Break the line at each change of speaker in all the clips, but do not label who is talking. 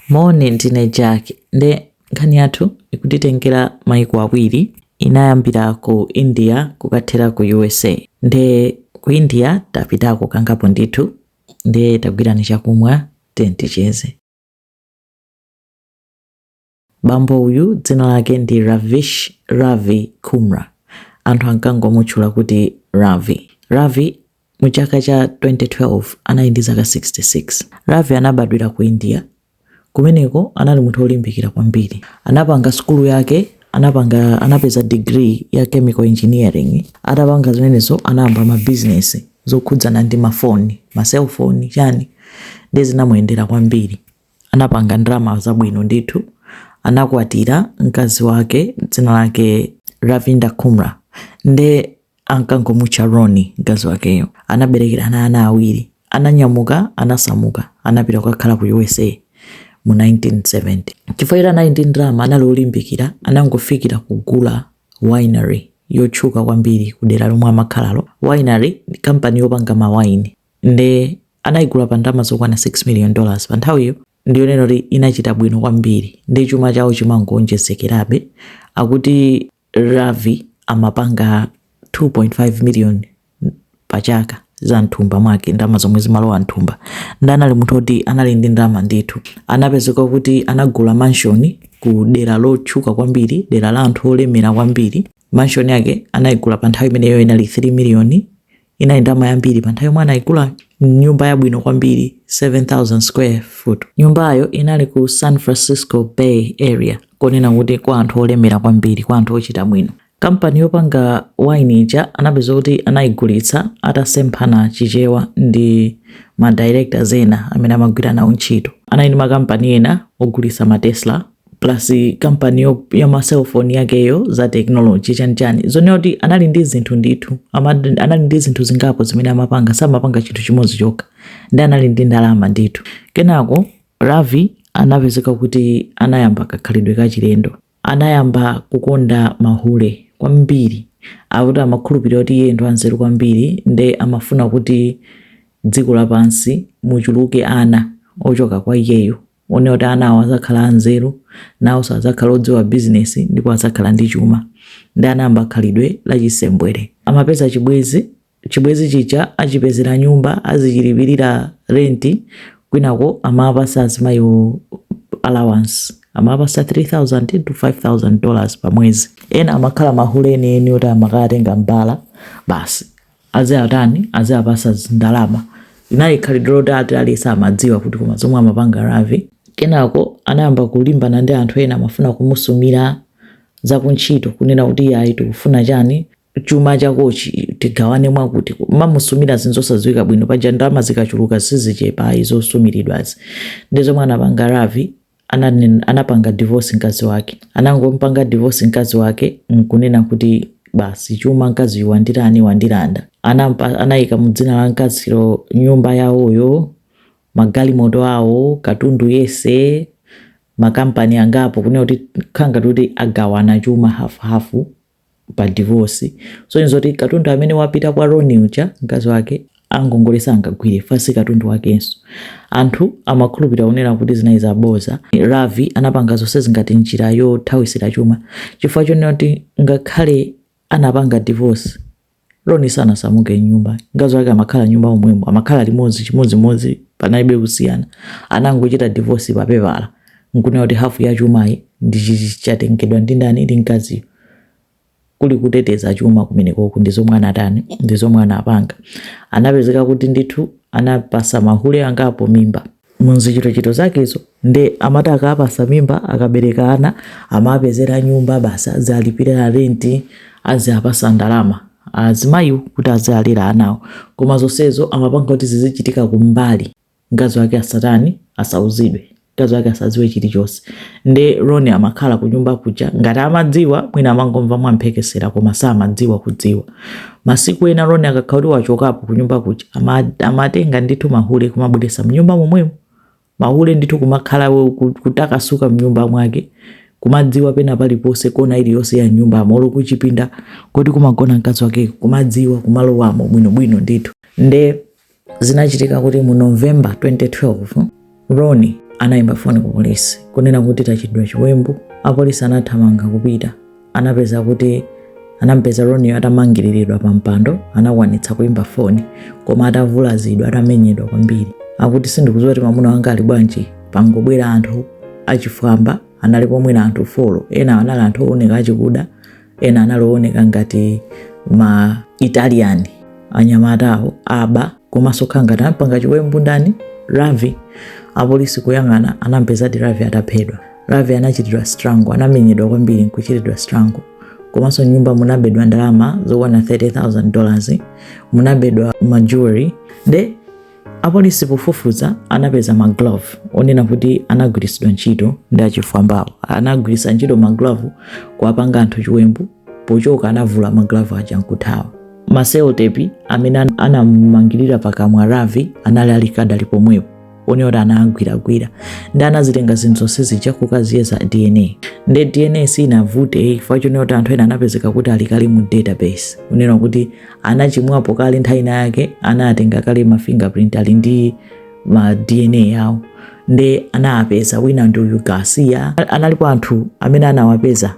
Moni, ndine Jack. Nde nkhani yathu ikutitengera maiko awiri. Inayambira ku India kukathera ku USA. Nde ku India tapitako kangapo ndithu. Nde tagwirani chakumwa tiyeni ticheze. Bambo uyu dzina lake ndi Ravish Ravi Kumra. Anthu ankangomutchula kuti Ravi. Ravi mu chaka cha 2012 anali ndi zaka 66. Ravi anabadwira ku India. Kumeneko anali munthu olimbikira kwambiri. Anapanga sukulu yake, anapeza degree ya chemical engineering. Atapanga zimenezo anayamba ma business zokhudzana ndi mafoni, ma cellphone chani. Ndiye zinamuyendera kwambiri. anapanga ndalama zabwino ndithu. Anakwatira mkazi wake dzina lake Ravinda Kumra nde ankangomutcha Roni mkazi wakeyo. Anaberekerana ana awiri. Ananyamuka, anasamuka, anapita kukakhala ku USA mu 1970. Chifukwa choti anali ndi ndalama, anali olimbikira, anangofikira kugula winery yotchuka kwambiri ku dera lomwe amakhalalo. Winery ndi kampani yopanga mawaini. nde anaigula pa ndalama zokwana 6 million dollars pa nthawiyo nde winery inachita bwino kwambiri ndi chuma chawo chimangoonjezekerabe akuti ravi amapanga 2.5 million pa chaka za mthumba mwake ndalama zomwe zimalowa mthumba ndi anali munthu oti anali ndi ndalama ndithu anapezeka kuti anagula mansion ku dera lotchuka kwambiri dera la anthu olemera kwambiri mansion yake anayigula pa nthawi imeneyo inali 3 million inali ndalama yambiri pa nthawi yomwe anayigula nyumba yabwino kwambiri 7000 square foot nyumbayo inali ku san francisco bay area konena kuti kwa anthu olemera kwambiri kwa anthu ochita bwino kampani yopanga wine ija anapeza kuti anayigulitsa atasemphana chichewa ndi ma directors ena amene amagwira nawo ntchito anali ndi makampani ena ogulitsa ma tesla plus kampani yo- ya ma cellphone yakeyo za technology chanichani zonena kuti anali ndi zinthu ndithu ama- anali ndi zinthu zingapo zimene amapanga samapanga chinthu chimodzi chokha ndi anali ndi ndalama ndithu kenako ravi anapezeka kuti anayamba kakhalidwe kachilendo anayamba kukonda mahule kwambiri akuti amakhulupirira kuti iye ndi wanzeru kwambiri nde amafuna kuti dziko lapansi muchuluke ana ochoka kwa iyeyo Onena kuti ana awo adzakhala anzeru, nawonso adzakhala odziwa bizinesi ndipo adzakhala ndi chuma. Ndi anayamba khalidwe la chisembwere. Amapeza chibwezi, chibwezi chija achipezera nyumba, azichilipirira renti, kwinako amawapasa azimayiwo allowance, amawapasa 3000 to 5000 dollars pa mwezi. Ena amakhala mahule enieni oti amakatenga m'bala basi. aziatani aziapasa zindalama inali khalidwe loti aliyense amadziwa kuti koma zomwe amapanga Ravi kenako anayamba kulimbana ndi anthu ena amafuna kumusumira zakuntchito kunena kuti iyayi tikufuna chani chuma chakochi tigawane mwakuti mamusumira zinthu zosadziwika bwino paja ndalama zikachuluka sizichepa izo zosumiridwazi ndi zomwe anapanga Ravi anapanga divorce nkazi wake anangompanga divorce nkazi wake nkunena kuti basi chuma nkaziyu wandirani wandilanda anayika mudzina la nkazilo nyumba yawoyo magalimoto awo katundu yese makampani angapo kunena kuti khala ngati kuti agawana chuma hafuhafu pa divorce kusonyeza zoti katundu amene wapita kwa Ronnie uja mkazi wake angongole sangagwire chifukwa si katundu wakenso anthu amakhulupirira kunena kuti zinali zaboza Ravi anapanga zonsezi ngati njira yothawisira chuma chifukwa chonena kuti ngakhale anapanga divorce Ronnie sanasamuke nyumba, mkazi wake amakhala nyumba momwemo, amakhala limodzi chimodzimodzi, panalibe kusiyana. Anangochita divorce pa pepala nkunena kuti hafu ya chumayi ndi chatengedwa ndi ndani ndi mkaziyo. Kuli kuteteza chuma kumenekoku ndi zomwe anatani ndi zomwe anapanga. Anapezeka kuti ndithu anapasa mahule angapo mimba. muzichitochito zakezo nde amati akapasa mimba akabereka ana amapezera nyumba basi aziwalipirira renti aziapasa ndalama azimayiwo kuti azialera anawo koma zonsezo amapanga kuti zizichitika kumbali mkazi wake asatani asauzidwe mkazi wake asadziwe chilichonse nde Ronnie amakhala kunyumba kuja ngati amadziwa mwina amangomva mwamphekesera koma samadziwa kudziwa Masiku ena Ronnie akakhala kuti wachokapo kunyumba kuja amatenga ndithu mahule kumabweresa mnyumba momwemo mahule ndithu kumakhala kutakasuka mnyumba mwake kumadziwa pena paliponse kona iliyonse ya nyumba molo kuchipinda koti kumagona mkazi wakeko kumadziwa kumalowamo bwinobwino ndithu nde Zinachitika kuti mu November 2012 Ronnie anayimba foni ku polisi kunena kuti tachitidwa chiwembu. Apolisi anathamanga kupita, anapeza kuti anampeza Ronnie atamangiriridwa pa mpando, anakwanitsa kuimba foni koma atavulazidwa, atamenyedwa kwambiri. Akuti sindikudziwa kuti mwamuna wanga ali bwanji, pangobwera anthu achifwamba analipo mwina anthu folo, ena anali anthu ooneka achikuda, ena anali owoneka ngati ma italian anyamatawo aba komanso kukhala ngati anampanga chiwembu ndani ravi apolisi kuyang'ana anampezadi ravi ataphedwa ravi anachitidwa strangle anamenyedwa kwambiri nkuchitidwa strangle komanso mnyumba munabedwa ndalama zokwana 30000 dollars munabedwa majewelry nde Apolisi pofufuza anapeza maglove onena kuti anagwiritsidwa ntchito ndi achifwambawo. Anagwiritsa ntchito maglove kuwapanga anthu chiwembu, pochoka anavula maglove aja nkuthawa. Maselotepi amene anamangirira pakamwa Ravi anali alikadali pomwepo onena kuti anagwiragwira nde anazitenga zinthu zonse zija kukaziyeza DNA nde DNA sinavute chifukwa chonena kuti anthu ena anapezeka kuti alikali mu database onena kuti anachimwapo kale nthawi ina yake anatenga kale ma fingerprint ali ndi ma dna yawo nde anawapeza wina ndi uyu garcia analipo anthu amene anawapeza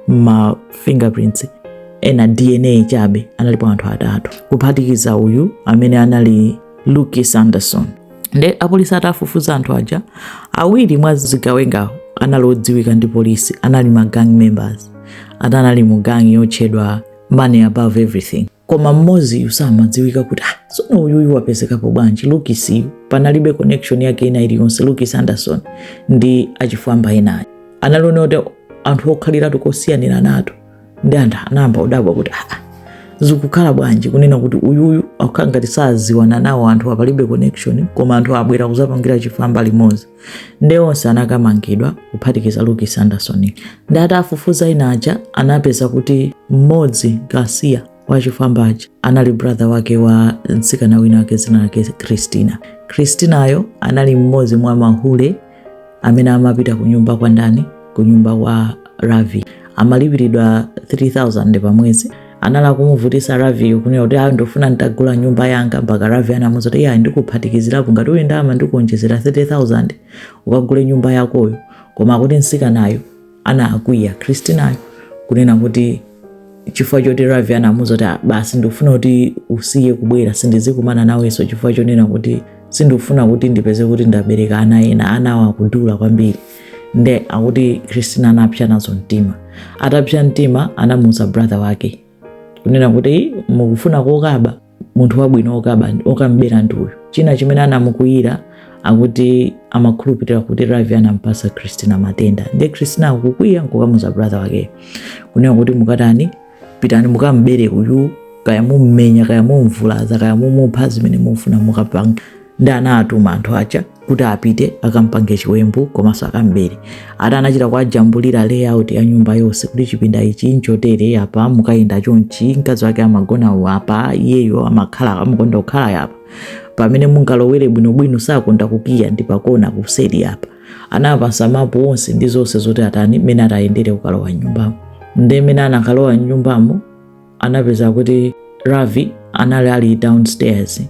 ma fingerprints ena dna chabe analipo anthu atatu kuphatikiza uyu amene anali lukis anderson nde apolisi atafufuza anthu aja awiri mwa zigawengawo anali odziwika ndi polisi anali ma gang members ati anali mu gang yotchedwa money above everything koma mmoziyu samadziwika kuti ah, tsono uyuyu wapezekapo bwanji lukisiyu panalibe connection yake ina iliyonse lukis anderson ndi achifwamba enawo anali onena kuti anthu okhaliratu kosiyaniranato nde anthu anayamba kudabwa kuti ah, ah, zikukhala bwanji kunena kuti uyuyu akukhala ngati saziwana nawo anthuwa palibe connection koma anthu abwera kuzapangira chifwamba limodzi nde onse anakamangidwa kuphatikiza lukis anderson nde atafufuza ena aja anapeza kuti mmodzi garcia wa achifwamba aja anali brother wake wa mtsikana wina wake dzina lake christina christinayo anali mmodzi mwa mahule amene amapita ku nyumba kwa ndani ku nyumba kwa Ravi amalipiridwa 3000 pa mwezi anali akumuvutisa Raviyo kunena kuti ayi ndofuna nditagula nyumba yanga mpaka Ravi anamuuza kuti iyayi ndikuphatikizirapo ngati uli ndi ndalama ndikuonjezera 30000 ukagule nyumba yakoyo koma akuti msikanayo anakwiya Christinayo kunena kuti chifukwa choti Ravi anamuuza kuti "Ah, basi ndikufuna kuti usiye kubwera sindizikumana nawenso chifukwa chonena kuti sindikufuna kuti ndipeze kuti ndabereka ana ena anawo akudula kwambiri nde akuti christina anapsa nazo mtima atapsa mtima anamuuza brother wake kunena kuti mukufuna kokaba munthu wabwino okaba okamubera ndi uyu china chimene anamukwiyira akuti amakhulupirira kuti ravi anampasa christina matenda nde christina akukwiya nkukamuza brother wake kunena kuti mukatani pitani mukam'bere uyu kaya mummenya kaya mumvulaza kaya mumupha zimene mufuna mukapanga nde anatuma anthu aja kuti apite akampange chiwembu komanso akambere ati anachita kuwajambulira layout ya nyumba yonse kuti chipinda ichi nchotere apa mukayenda chonchi mkazi wake amagona apa iyeyo amakhala amakonda kukhala apa pamene mungalowere bwinobwino sakonda kukiya ndi pakona kuseri apa Anawapasa mapu onse ndi zonse zoti atani mmene atayendere kukalowa mnyumbamo. Nde mmene anakalowa mnyumbamo anapeza kuti Ravi anali ali downstairs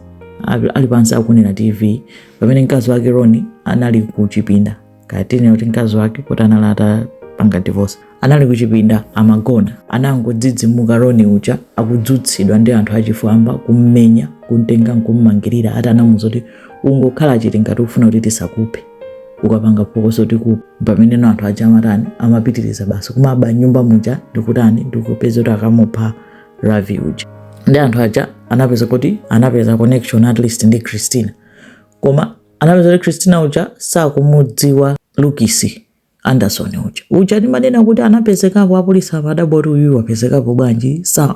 ali pansi akuonera TV pamene mkazi wake Roni anali kuchipinda kapena ndinene kuti mkazi wake kuti anali atapanga divorce. anali kuchipinda amagona anangodzidzimuka roni uja akudzutsidwa ndi anthu achifwamba kummenya kumtenga nkummangirira ati anamuza kuti ungokhala chete ngati ufuna kuti tisakuphe ukapanga phokoso tikupha pamene anthu aja amatani amapitiriza basi kumaba nyumba muja ndikutani ndikupeza kuti akamupha ravi uja ndi anthu aja anapeza kuti anapeza connection at least ndi christina koma anapeza kuti christina uja sakumudziwa lukisi Anderson uja uja timanena kuti anapezekapo apolisi amadabwa kuti uyu wapezekapo bwanji sa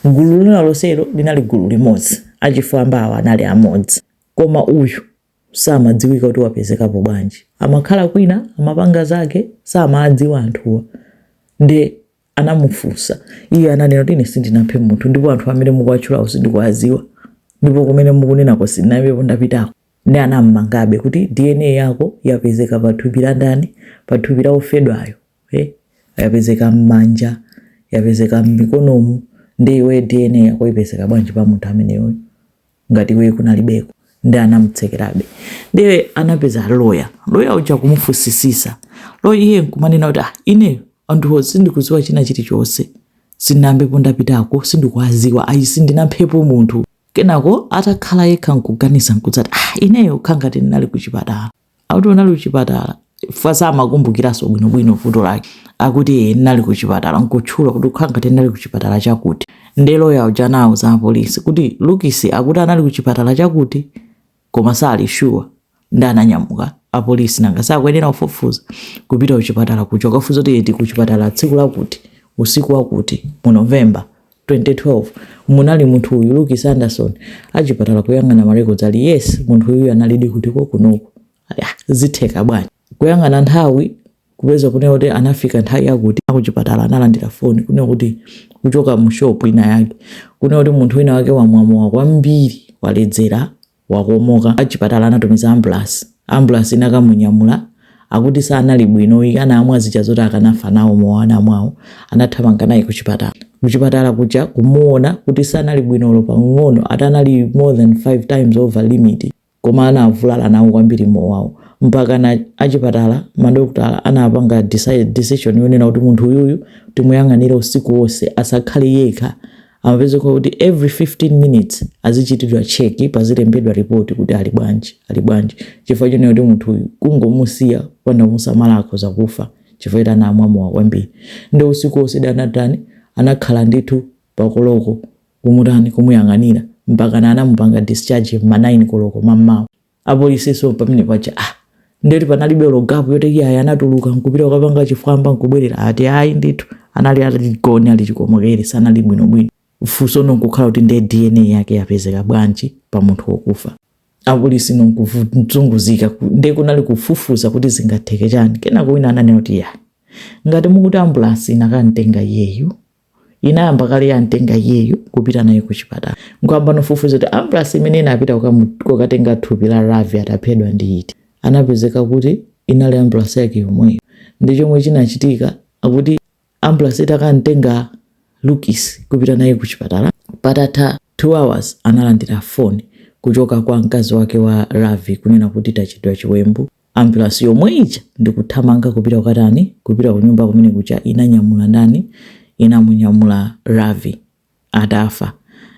gulu lina lonselo linali gulu limodzi achifwamba awa anali amodzi koma uyu samadziwika kuti wapezekapo bwanji amakhala kwina amapanga zake samadziwa anthuwa nde anamufunsa iye ananena kuti ine sindinaphe munthu ndipo anthu amene mukuwatchulawo sindikuwadziwa ndipo kumene mukunenako sindinayambepo ndapitako Nde anammangabe kuti DNA yako yapezeka pa thupi la ndani? Pa thupi la ofedwayo. Eh? Yapezeka mmanja, yapezeka mmikonomu, nde iwe DNA yako ipezeka bwanji pa munthu ameneyo ngati iwe kunalibeko? Nde anamtsekerabe. Nde anapeza loya. Loya uja kumufunsisisa. Loya iye nkumanena kuti ah, ineyo anthuwo sindikudziwa china chilichonse. Sindinayambepo ndapitako, sindikuwadziwa, ayi sindinaphepo munthu. Kenako atakhala yekha nkuganiza nkudzati ah ineyo kukhala ngati ndinali kuchipatala. Akuti unali kuchipatala chifukwa samakumbukiranso bwinobwino vuto lake. Akuti ee ndinali kuchipatala nkutchula kuti kukhala ngati ndinali kuchipatala chakuti. Nde loya uja anauza apolisi kuti Lukisi akuti anali kuchipatala chakuti. koma sali sure nde ananyamuka apolisi nanga sakuyenera kufufuza kupita kuchipatala kucho kukafunsa kuti eti kuchipatala tsiku lakuti usiku wakuti mu november 2012 munali munthu uyu Lukis Anderson achipatala kuyang'ana marekodzi ali yes munthu uyu analidi kuti kunoko Ah, zitheka bwanji kuyang'ana nthawi kupeza kunena kuti anafika nthawi yakuti akuchipatala analandira foni kunena kuti kuchoka mu shop ina yake kunena kuti munthu wina wake wamwa mowa kwambiri waledzera wakomoka achipatala anatumiza ambulance ambulance inakamunyamula akuti sanali bwino ayi anamwa zija zoti akanafa nawo mowa anamwawo anathamanga naye kuchipatala kuchipatala kuja kumuona kuti sanali bwino olo pang'ono ati anali more than 5 times over limit Koma anavulala nawo kwambiri mowawo mpakana achipatala, madokotala anapanga decide, decision yonena kuti munthu uyuyu timuyang'anire usiku onse asakhale yekha. Amapezeka kuti every 15 minutes azichitidwa check, pazilembedwa report kuti ali bwanji, ali bwanji chifukwa chonena kuti munthu uyu kungomusiya kupanda kumusamala akhoza kufa chifukwa choti anamwa mowa kwambiri. Nde usiku onse anatani, anakhala ndithu pa koloko kumutani kumuyang'anira mpakana anamupanga discharge ma 9 koloko mammawa apolisinso pamene paja ndeti panalibe olo gapu yoti iye ayi anatuluka nkupita kukapanga chifwamba nkubwerera ati ayi ndithu anali aligoni ali chikomokere sanali bwinobwino funso nonkukhala kuti ndiye dna yake yapezeka bwanji pa munthu wokufa apolisi nonkuzunguzika ndiye kunali kufufuza kuti zingatheke chani kenako wina ananena kuti ya ngati mukuti ambulansi inakamtenga iyeyu inayamba kale yamtenga iyeyu kupita naye ku chipatala nkuyambano kufufuza kuti ambulasi imene inapita kukatenga thupi la ravi ataphedwa ndi iti anapezeka kuti inali ambulasi yake yomweyo nde chomwe chinachitika akuti ambulasi itakamtenga lukis kupita naye ku chipatala patatha 2 hours analandira foni kuchoka kwa mkazi wake wa ravi kunena kuti tachitidwa chiwembu Ambulasi yomwe ija ndikuthamanga kupita kukatani? Kupita kunyumba kumene kuja inanyamula ndani? Inamunyamula Ravi atafa.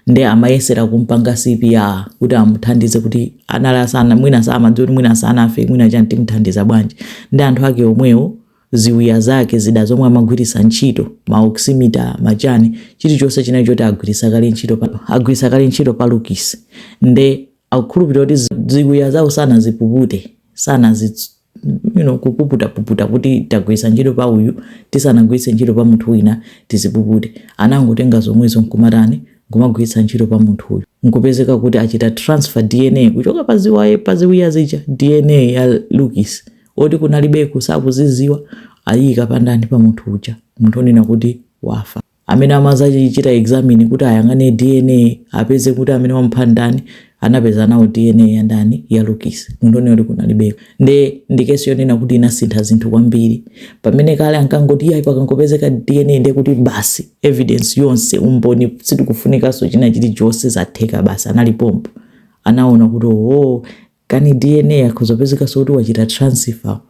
Nde amayesera kumpanga CPR kuti amuthandize kuti anali asana mwina samadziwa kuti mwina sanafe mwina chani timuthandize bwanji. Ndi anthu ake omwewo ziwiya zake zida zomwe amagwiritsa ntchito ma oximeter machani chilichonse chinali choti agwiritsa kale ntchito pa agwiritsa kale ntchito pa Lukis nde akukhulupirira kuti zi- ziwiya zawo sanazipupute sanazi you know, kupuputapuputa kuti tagwiritsa ntchito pa uyu tisanagwiritse ntchito pa munthu wina tizipupute anangotenga zomwezo nkumatani nkumagwiritsa ntchito pa munthu uyu nkupezeka kuti achita transfer dna kuchoka pa ziwaye pa ziwiya zija dna ya lukis oti kunalibeko sakuziziwa ayiyika pandani pa munthu uja munthu onena kuti wafa amene amazachichita examine kuti ayang'ane dna apeze kuti amene wamupha ndani anapeza nawo dna ya ndani ya lukis munthu onena kuti kunalibeko nde ndikesi yonena kuti inasintha zinthu kwambiri pamene kale ankangoti iyayi pakangopezeka dna nde kuti basi evidence yonse umboni sitikufunikanso china chilichonse zatheka basi analipompo anaona kuti oo kani dna ikhoza kupezekanso kuti wachita transfer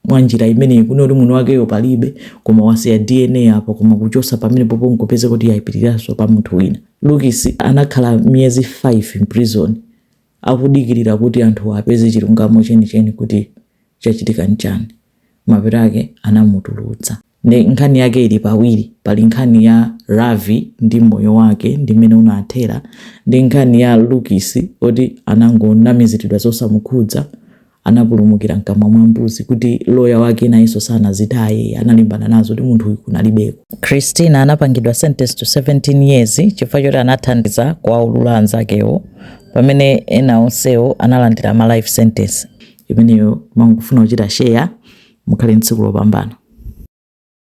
mwanjira imeneyi kunena kuti munthu wakeyo palibe koma wasiya dna apo koma kuchosa pamenepopo nkupezeka kuti yaipitiraso pa munthu wina lukis anakhala miyezi 5 mprison akudikirira kuti anthu apeze chilungamo chenicheni kuti chachitika nchani mapeto ake anamutulutsa Nde nkhani yake ili pawiri, pali nkhani ya Ravi ndi moyo wake ndi mmene unathera, ndi nkhani ya Lucas oti anangonamiziridwa zosamukhudza, anapulumukira mkamwa mwa mbuzi kuti lawyer wake nayenso sanazitaye, analimbana nazo kuti munthu uyu kunalibeko. Christina anapangidwa sentenced to 17 years chifukwa choti anathandiza kuwaulula anzakewo pamene ena onsewo analandira ma life sentence. imeneyo ndimangofuna kuchita share mukhale ndi tsiku lopambana